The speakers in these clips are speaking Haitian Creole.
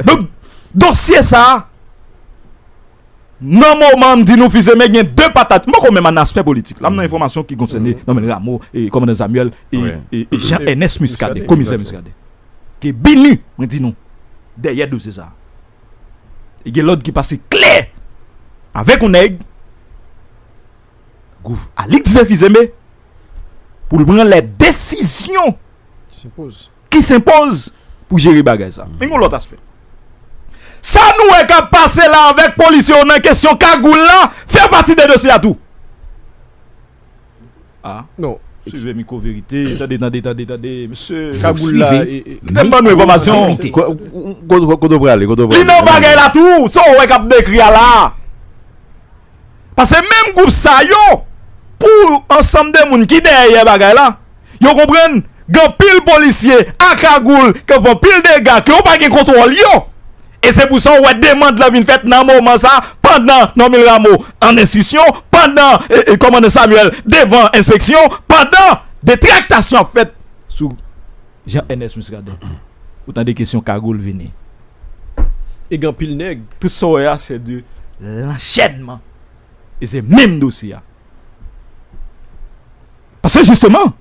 Donk dosye sa a nan moman m di nou Fils-Aimé gen de patat m poko menm nan aspè politik la m nan enfòmasyon ki konsène Nòmèl Ramo e Kòmandan Samuel e Jean Ernest Muscadin Komisè Muscadin ke BINUH mwen di nou dèyè dosye sa a e gen lòd ki pase klè avèk yon nèg tankou Alix Zé Fils-Aimé pou l pran lè desizyon. ki senpoz pou jere bagay sa. Men yon lòt aspè. Sa nou wè k ap pase la avèk polisye yo nan kesyon kagoul la fè pati de dosye a tou. A. Non. Swive mikwo verite. Tande tande tande tande mesye. Kagoul la e. Kite m ban nou enfòmasyon. Kote w prale kote w prale. Li nan bagay la tou. Sa w wè k ap dekri a la. Pase menm gwoup sa yo pou ansanm de moun ki dèyè bagay la, yo konprann gen anpil polisye a kagoul k ap fè anpil dega ke yo pa gen kontwòl yo. E se pou sa ou wè demand lan vin fèt nan moman sa a pandan Normil Rameau an enstriksyon, pandan kòmandan Samuel devan enspeksyon, pandan de traktasyon ap fèt sou Jean Ernest Muscadin. Ou tande kesyon kagoul vini. e gen anpil nèg. Tout sa w wè a se 2 lanchènman e se menm dosye a. Paske jisteman,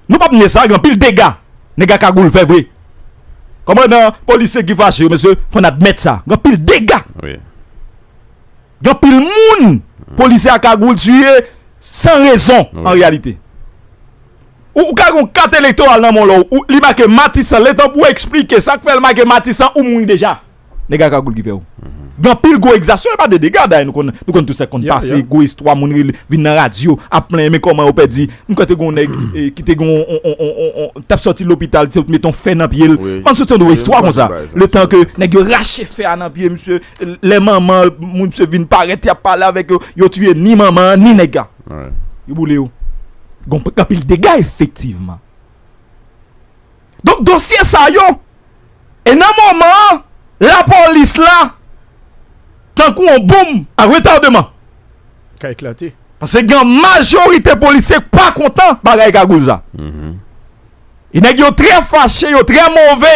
nou pap nye sa gen anpil dega nèg a kagoul fè vre. Kòmandan, polisye ki fache yo mesye fò n admèt sa, gen anpil dega. Gen anpil moun polisye a kagoul tiye san rezon an reyalite. Ou ka gen yon kat elektoral nan men w la ou li make matisan letan pou esplike sa k fè l make matisan ou mouri deja nèg a kagoul ki fè w gen anpil gwo egzasyon e pa de dega dayè nou konn nou konn tout sa k konn pase gwo istwa moun rele vin nan radyo ap plenyen men kòman yo pèdi m kwè te gen yon nèg ki te gen yon on on on on on tap sòti lopital ti yo t met on fè nan pye l an sou sonde yon istwa konsa letan ke nèg yo rache fè a nan pye misye lè manman moun misye vin parèt y ap pale avèk yo yo tiye ni manman an ni nèg a. Yo boule yo. Gon anpil dega efektivman. Donk dosye sa yo e nan moman an lapolis la tankou on bonm a retardeman. Ka eklate. Pase gen majorite polisye k pa kontan bagay kagoul sa. E nèg yo trè fache, yo trè move.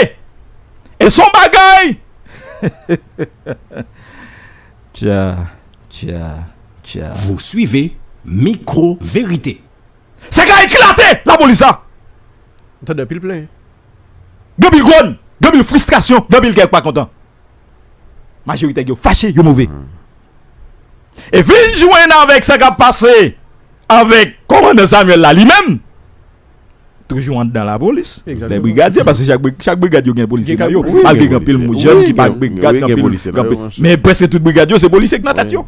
E son bagay. Tya. Tcha tcha. Vous suivez Micro Vérité. Sa ka eklate la polis la. M tande anpil plen. Gen anpil gronn, gen anpil fristrasyon, gen anpil kè k pa kontan. Majoritè yo fache, yo move. E vin jwenn avèk sa k ap pase avèk kòmandan Samuel la li menm. Toujou andan la polis. Lè brigadye paske chak brigad yo gen polisye nan yo. Malgre gen anpil moun jèn ki pa brigad gen anpil polisye nan yo. Men prèske tout brigad yo se polisye ki nan tèt yo.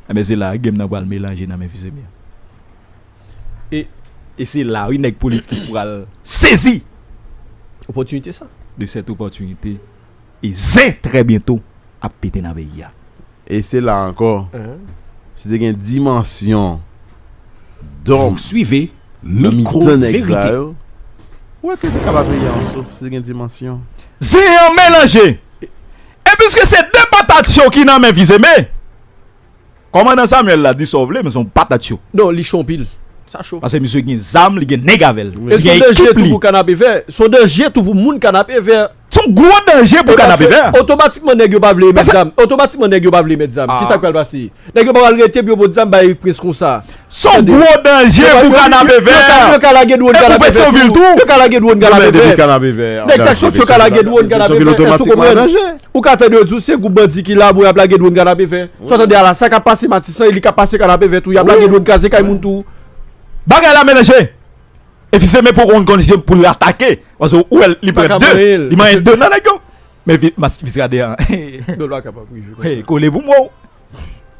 Enben se la game nan pral melanje nan men Fils-Aimé a. E se la wi nèg politik pral sezi. Opòtinite sa. De sèt opòtinite. E zen trè byento ap pete nan peyi a. E se la ankò, si te gen dimansyon dòm nan mitan nèg sa yo, ou wè ke te ka pa peyi a an souf si te gen dimansyon. Zen an melanje! E piske se 2 patat cho ki nan men Fils-Aimé. Kòmandan Samuel la di sa w vle men se yon patat cho. Non li cho anpil. Sa cho. Pase misye gen zam, li gen nèg avèl. Li gen ekip li. E son danje tou pou kanapevè. Son danje tou pou moun kanapevè. Se yon gwo danje pou kanapevè. Paske otomatikman nèg yo pa vle emet zam. Otomatikman nèg yo pa vle emet zam. Kisa k pral pase? Nèg yo pa pral rete pou yo pot zam bay Erik Prince konsa. Son gwo danje pou kanapevè. Yo ka lage dwon kanapevè tou. Nèg tak sòt yo ka lage dwon kanapevè. Èske ou konprann? Ou ka tande yo di ou se gwoup bandi ki la bon y ap lage dwon kanapevè. Sa w tande a la? Sa k ap pase Matisan e li ka pase kanapevè tou. Y ap lage dwon kraze kay moun tou. Bagay la melanje. Efiseme poko konn ki jen pou l atake. Paske ou wè li pran 2. Li manyen 2 nan nèg yo. Men vye mask Miskaden an Hey kole pou mwen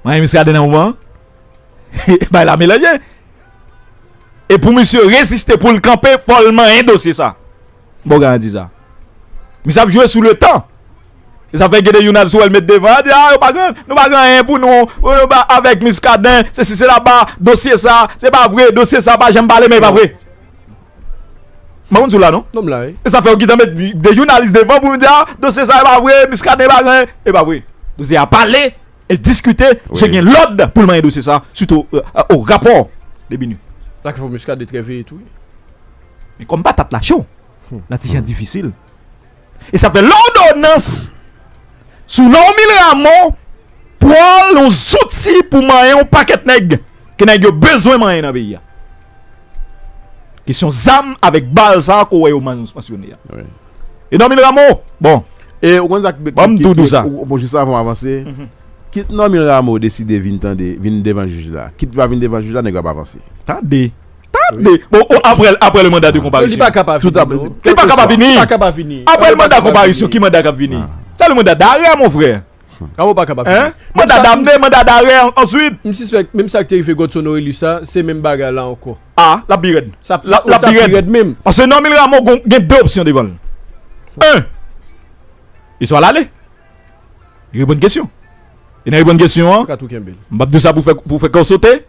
Mwen renmen Miskaden nan moman an Bay la melanje E pou misye reziste pou l kanpe fò l manyen dosye sa Bon garanti sa Misye ap jwe sou le tan E sa fè gede yon al sou el met devan Di a nou pa gen nou pa gen anyen pou nou Avèk Miskaden se si se la ba Dosye sa se pa vre dosye sa pa janm pale men e pa vre Mwen konn si w la non. Non m la wi. E sa fè yo gentan met 2 jounalis devan pou yo di a dosye sa e pa vre Muscadin pa gen anyen. E pa vre. Dosye a pale, e diskite, misye gen lòd pou l manyen dosye sa sitou o rapò de BINUH. Sa ki fè Muscadin trè veye tou wi. Men kòm patat la cho, nan ti jan difisil. E sa fè lòdonans sou Normil Rameau pral yon zouti pou manyen yon pakèt nèg ke nèg yo bezwen manyen nan peyi a. Kesyon zam avèk bal sa ke w wè yo mansyone a. E Normil Rameau, bon, E ou konn sa k, Ban m tou di w sa. Bon, jis avan w avanse, kit Normil Rameau deside vin tande, vin devan jij la, kit li pa vin devan jij la, nèg yo ap avanse. Tande! Tande! Bon, o, apre, apre le manda de konparisyon. Non, li pa ka pa vini, non. Li pa ka pa vini! Li pa ka pa vini! Apre le manda konparisyon, ki manda k ap vini? Se le manda darè, mon frè. Kman ou pa ka pa vini? Hein? Manda damne, manda darè, answit. M sispèk, menm sa k te rive Godson Orélus la, se menm bagay la ankò. A, l ap pi rèd. Sa ap, sa ap pi rèd menm. Paske Normil Rameau gon, gen de opsyon devan l. En, li swa l ale. Li reponn kesyon. E nan reponn kesyon an, m p ap di w sa pou fè, pou fè kè w sote.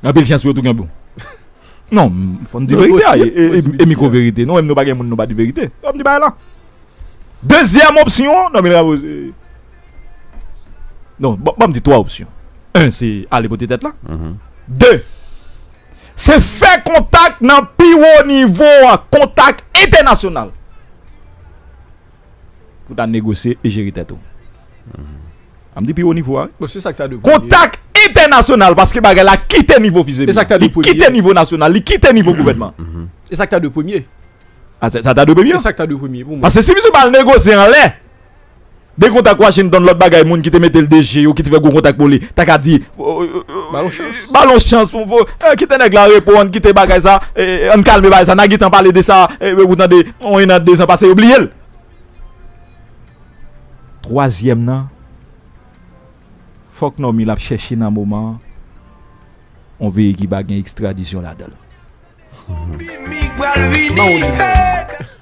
Anpil chans pou yo tou gen bon. Non, fò n di verite a e mikwo verite. Nou menm nou pa gen moun nou pa di verite. Fò n di bagay lan. Dezyèm opsyon, non men ravo se Non, ban m di 3 opsyon. 1 se ale pote tèt la. 2 se fè kontak nan pi wo nivo a, kontak entènasyonal. pou ta negosye e jere tèt ou. An m di pi wo nivo a wi. Kontak entènasyonal paske bagay la kite nivo fizemi. Li kite nivo nasyonal, li kite nivo gouvènman. E sa k ta dwe premye? A sa ta dwe premye? E sa k ta dwe premye pou mwen? Paske si misye pa al negosye anlè, de kontak Washington lòt bagay moun ki te mete l DG yo ki te fè gwo kontak pou li ta ka di ba l yon chans. Ba l yon chans pou kite nèg la reponn, kite bagay sa, an n kalme bagay sa, n a gen tan pale de sa ou tande. On 1 an 2 zan pase yo bliyel. Twazyèm nan fòk Normil ap chèche nan moman an on veye ki pa gen ekstradisyon ladanl.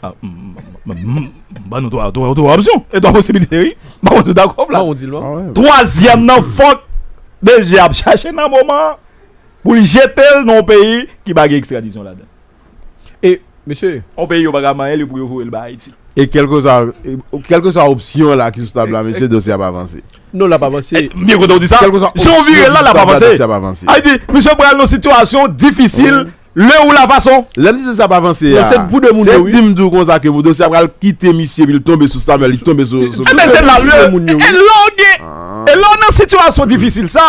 M ban nou 3 opsyon e 3 posibilite wi. M pa konn si w dakò Vlad. Twazyèm nan fòk DG ap chèche nan moman an pou l jetel nan on peyi ki pa gen ekstradisyon ladanl. E, mesye. Yon peyi yo pa ka manyen li pou yo voye l bay Ayiti. E kèlkeswa, kèlkeswa opsyon la ki sou tab la, mesye, dosye a pa vanse. Non, l ap avanse. M byen kontan ou di sa. Kèlkeswa opsyon ki sou tab la, dosye a pa vanse. Jan w vire l la, l ap avanse. Dosye a pa vanse. Sa vle di, misye pral nan sitiyasyon difisil le ou la fason. Lè m di dosye a pa vanse a, se pou 2 moun yo wi. Se di m di w konsa ke dosye a pral kite misye epi l tonbe sou Samuel, li tonbe sou. Enben se la, e lè w gen, e lè w nan sitiyasyon difisil sa.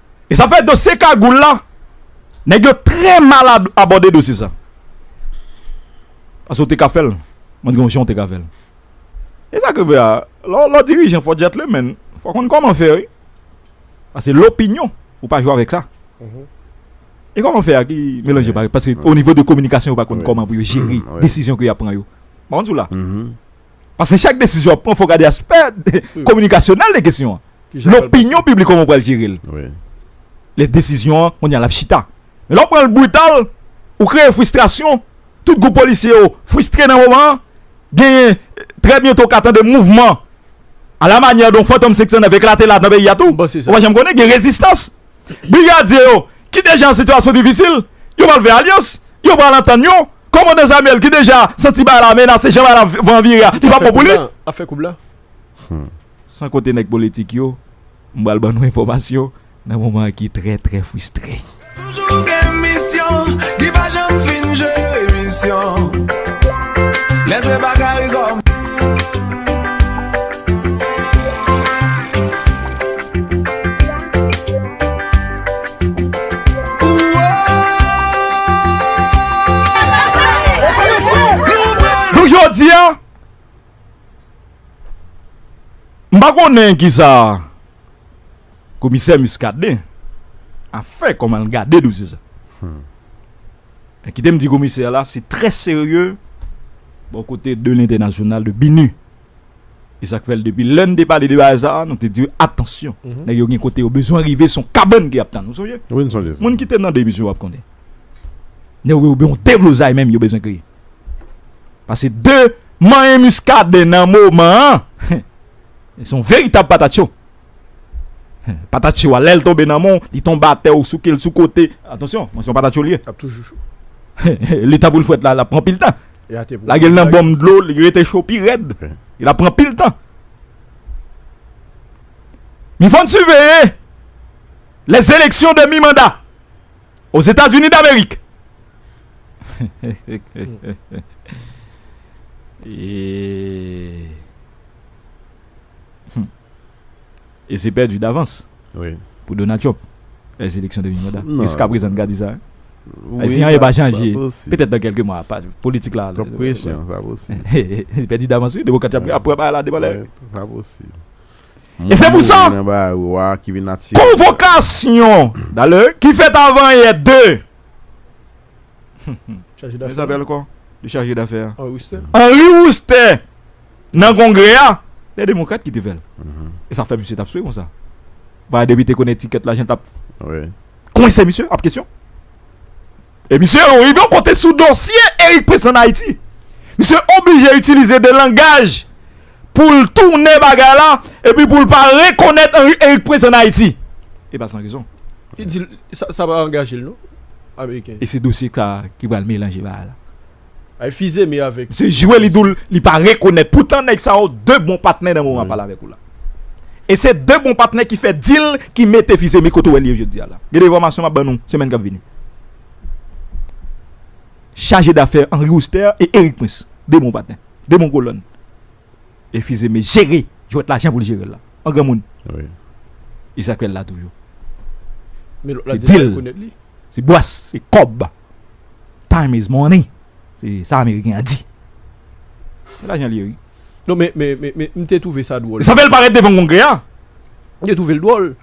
E sa fè dosye kagoul la, nèg yo trè mal abòde dosye sa. Pase w te ka fè l, mwen gen yon jan w te ka fè l. E sa ki vre a, lè w dirijan fò w djètlemenn, fò w konn kòman fè wi. Pase lopinyon, ou pa jwe avèk sa. E kòman fè a ki melanje bagay, pase o nivo de kominikasyon yo pa konn kòman pou yo jere desizyon ke y ap pran yo. M pa konn si w la. Paske chak desizyon wap pran fòw gade aspè kominikasyonèl de kesyon an. Lopinyon piblik kòman ou pral jere l. Lè desizyon an konnya lap chita. Men lè ou pranl brital, ou kreye fristrasyon, tout gwoup polisye yo fristre nan moman an, genyen trè byento w ka tande mouvman a la manyè de yon fantom 509 eklate la nan peyi a tou. Ou pa janm konnen gen rezistans. Brigadye yo ki deja an sitiyasyon difisil, yo pral fè alyans, yo pral antann yo. Kòmandan Samuel ki deja santi bagay la menase, jan bagay la van vire a, li pap bon pou li. San konte nèg politik yo, m pral ban nou enfòmasyon nan moman ki trè trè fristre. Jou jodi a M pa konnen ki sa komisè Muscadin a fè kòman l gade dosye sa. Men kite m di komisè la se trè serye bò kote de lentènasyonal de BINUH. E sak fèl depi lè nou te pale de bagay sa nou te diw atansyon nèg yo gen kote yo bezwen rive son kabann ki ap tann ou sonje moun kite nan demisyon wap konnen nèg yo gen yon deblozay menm yo bezwen kreye pase de manyen miskaden nan moman an son veritab patat cho. Patatchou a, lè l tonbe nan men w, li tonbe atè ou souke l sou kote, atansyon, mwen se yon patatchou li ye, L ap toujou cho. li ta pou l frèt la, l ap pran pil tan. E ate pou Lage l nan bonm dlo, li rete cho pi rèd, li ap pran pil tan. Li fò n siveye lèzeleksyon de mi manda ozetazini damerik. Humm e se pèdi davans wi pou Donald Trump lè eleksyon demi manda nan jiska prezan nou ka di sa wi si anyen pa chanje petèt nan kèlke mwa pa politik la twòp presyon sa posib li pèdi davans wi demokrat yo ap pran bagay la devan lè sa posib e se pou sa moun mouri nan bagay wa ki vin atire konvokasyon dalè ki fèt avan yè de. Henri Roustè nan kongrè a lè demokrat ki te fèl e sa fè misye tap swe konsa ba depite konnen tikèt la jan tap kwen se misye ap kesyon e misye ou rive ou kote sou dosye erik pres an ayiti misye oblije itilize de langaj pou l tounen bagay la epi pou l pa rekonèt Anri Erik Prens ann Ayiti. E pa san rezon. Li di sa pa angaje l non, ameriken yo. E se dosye sa a ki pral melanje bagay la. Ay Fizeme avèk. Misye jwe li di w li pa rekonèt. Poutan nèg sa yo 2 bon patnè nan moman m pale avèk ou la. E se 2 bon patnè ki fè dil ki mete Fizeme kote w wè l ye jodi a la. Gen enfòmasyon m ap ban nou semèn k ap vini. Chajedafè Anri Oustè e Erik Prens 2 bon patnè. 2 bon kolòn e Fils-Aimé jere jwèt la jan pou l jere l la an granmoun Isakrèl la toujou se dil se bwàs se kòb time is money se sa ameriken an di se lajan l ye wi non men men men m te twouve sa dwòl e sa fè l parèt devan kongrè a m te twouve l dwòl.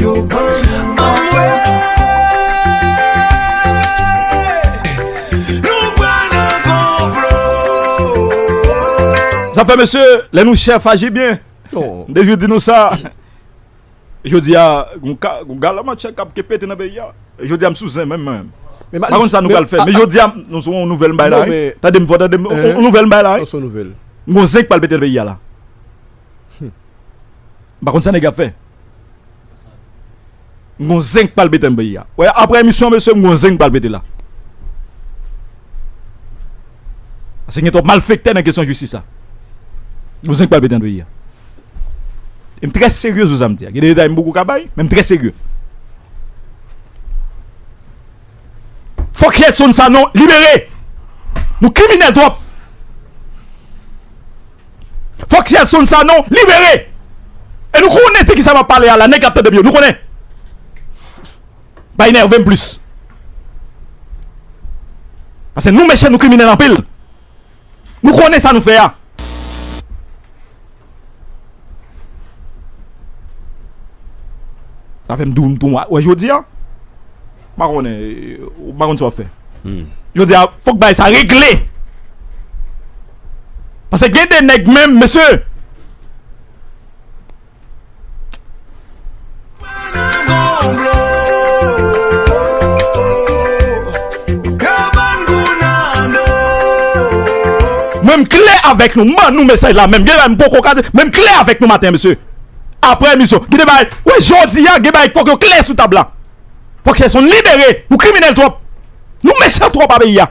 Yo ban nou manti. Zafè mesye, lè nou chèf aji byen. Mde jwè di nou sa. Jwè di a, gou gala man chèk ap kepe te nan be ya. Jwè di a msou zen men men. Maron sa nou kal fè. Mde jwè di a, nou sou nou vel mbay la. Tade mvò, tade mvò, nou vel mbay la. Mwen zen kpal pete nan be ya la. Humm. M pa konn sa nèg yo ap fè. M gon zen k pral pete nan peyi a. Ou wè aprè emisyon an mesye m gon zen k pral pete la. Paske gen twòp malfektè nan kesyon jistis la. Gon zen k pral pete nan peyi a. E m trè serye sou sa m di a. Gen de detay m poko ka bay men m trè serye. Fòk Yerson Sanon libere! Nou kriminèl twòp! Fòk Yerson Sanon libere! E nou konnen de kisa m ap pale a la, nèg k ap tande m yo, nou konnen! Pa enève m plis! Pase nou mechan, nou kriminèl anpil! Nou konnen sa nou fè a. Sa fèm doun tou wè jodi a. Mwen konnen, mwen konnen sa wè fè. Hmm. Jodi a, fòk bay sa regle. Pase gen de nèg menm, mesye. Mwen m klè avèk nou, m ban nou mesaj la menm, gen bagay m poko ka di, men m klè avèk nou maten an mesye. Aprè emisyon, gen de bagay, wè jodi a gen bagay k fòk yo klè sou tab la. Fòk Sherson libere, nou kriminèl twòp, nou mechan twòp a peyi a.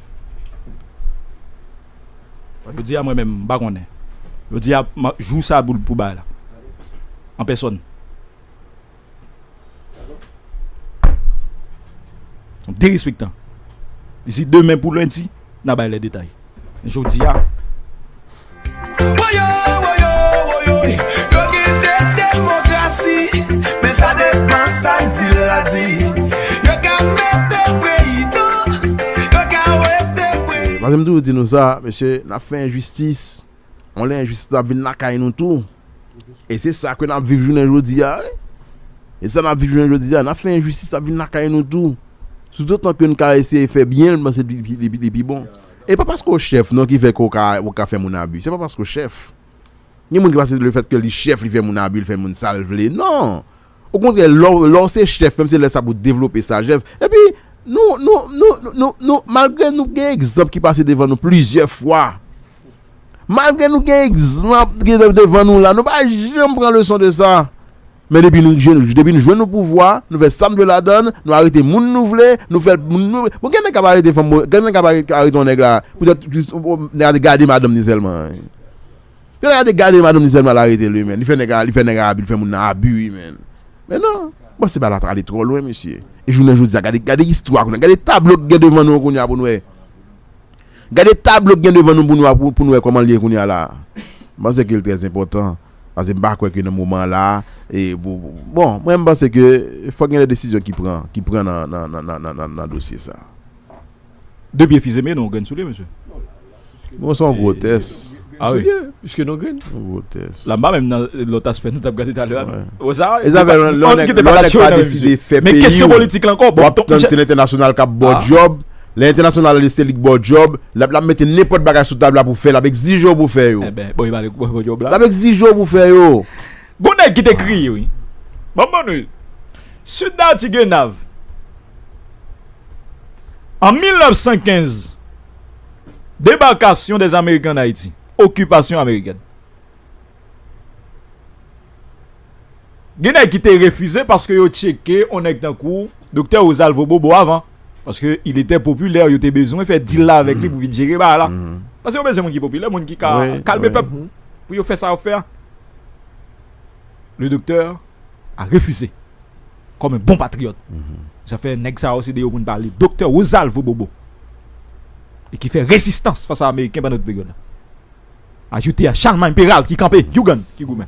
Jodia mwen menm m pa konnen. Jodia jou sa boul pou bay la. An pèsòn. Yon derespektan. Disi demen pou lendi na bay lè detay. Jodia. Mwen se m toujou di nou sa, mesye, n ap fè enjistis, on lè enjistis la vin lakay nou tou, e se sa ke n ap viv jounen jodi a, e sa n ap viv jounen jodi a, n ap fè enjistis la vin lakay nou tou, soutotan ke n ka eseye fè byen, mwen se li pi bon. E pa paske w chèf non ki fè ke w ka fè moun abi. Se pa paske w chèf. Gen moun ki panse se le fèt ke li chèf li fè moun abi, li fè moun sa l vle. Non! Okontrè, lè w se chèf menm se lè sa pou w devlope sajès. Epi, nou, nou, nou, nou, nou, malgre nou gen egzanp ki pase devan nou plizyè fwa, malgre nou gen egzanp ki devan nou la, nou pa janm pran leson de sa. Men depi nou depi nou jwenn opouvwa, nou fè sa nou vle ladan l, nou arete moun nou vle, nou fè moun nou vle. Bon gen nèg k ap arete fanm, gen nèg k ap arete yon nèg la poutèt jis nèg la te gade madanm ni sèlman. Yon nèg la te gade madanm ni sèlman l arete l wi men. Li fè nèg la li fè nèg la abi, li fè moun nan abi wi men. Men non, bon se bagay la ale twò lwen mesye. E jounen jodi a gade gade istwa kounye a, gade tablo ki gen devan nou kounye a pou n wè. Gade tablo ki gen devan nou pou n wè kòman l ye kounye a la. Mwen panse ke l trèzenpòtan. Pase m pa kwè ke nan moman la, bon, mwen m panse ke fòk gen de desizyon ki pran, ki pran nan dosye sa. De pye fize men nou grenn sou li mesye. Bon son grotès. A wi. Piske nou grenn. Son grotès. La mba menm nan lòt aspè nou tap gade talè a non. Bon sa. E zafè lò nèg pa deside fè peyi. Men kesyon politik la ankò. Wap tann se lentènasyonal kap baw djòb. Lè entènasyonal ale se li k baw djòb, lap lap mete nenpòt bagay sou tab la pou fè, lap egzije w pou fè yo. Enben, bon yo pale pou fè djòb la. Lap egzije w pou fè yo. Gon nèg ki te kriye wi. Banm bann wi. Sud da Tigenav. An 1915, Debarkasyon des Américains en Haïti, Okipasyon Amerikèn. Gen nèg ki te refize paske yo tcheke on nèg tankou Doktè Rosalvo Bobo avan. Paske il etè popilè, yo te bezwen fè dil la avèk li pou vin jere bagay la. Paske yo bezwen moun ki popilè, moun ki ka kalme pèp pou yo fè sa y ap fè a. Le doktè a refize kòm bon patriyòt. Sa fè nèg sa yo se de yo pou n pale. Doktè Rosalvo Bobo e ki fè rezistans fas a ameriken pandan tout peryòd la. Ajoute a Chalmay Peral ki kanpe, you gann ki goumen.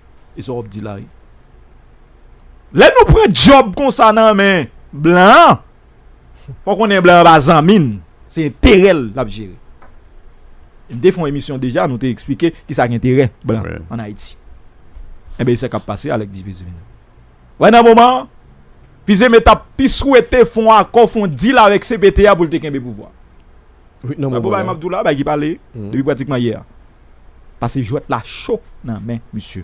E sa wap di la wi. Lè nou pran djòb konsa nan men blan, fò konnen blan an pa zanmi n, se enterè l lap jere. E m te fon emisyon deja nou te eksplike ki sa ki enterè blan an Ayiti. Enben e sa kap pase alek di viziv nan. Wè nan moman an, Fizeme tap pi swete fon akò, fon dil avèk CPT a pou l te kenbe pouvwa. Bagay map di w la, bagay ki pale depi pratikman yè a. Pase jwèt la cho nan men misye.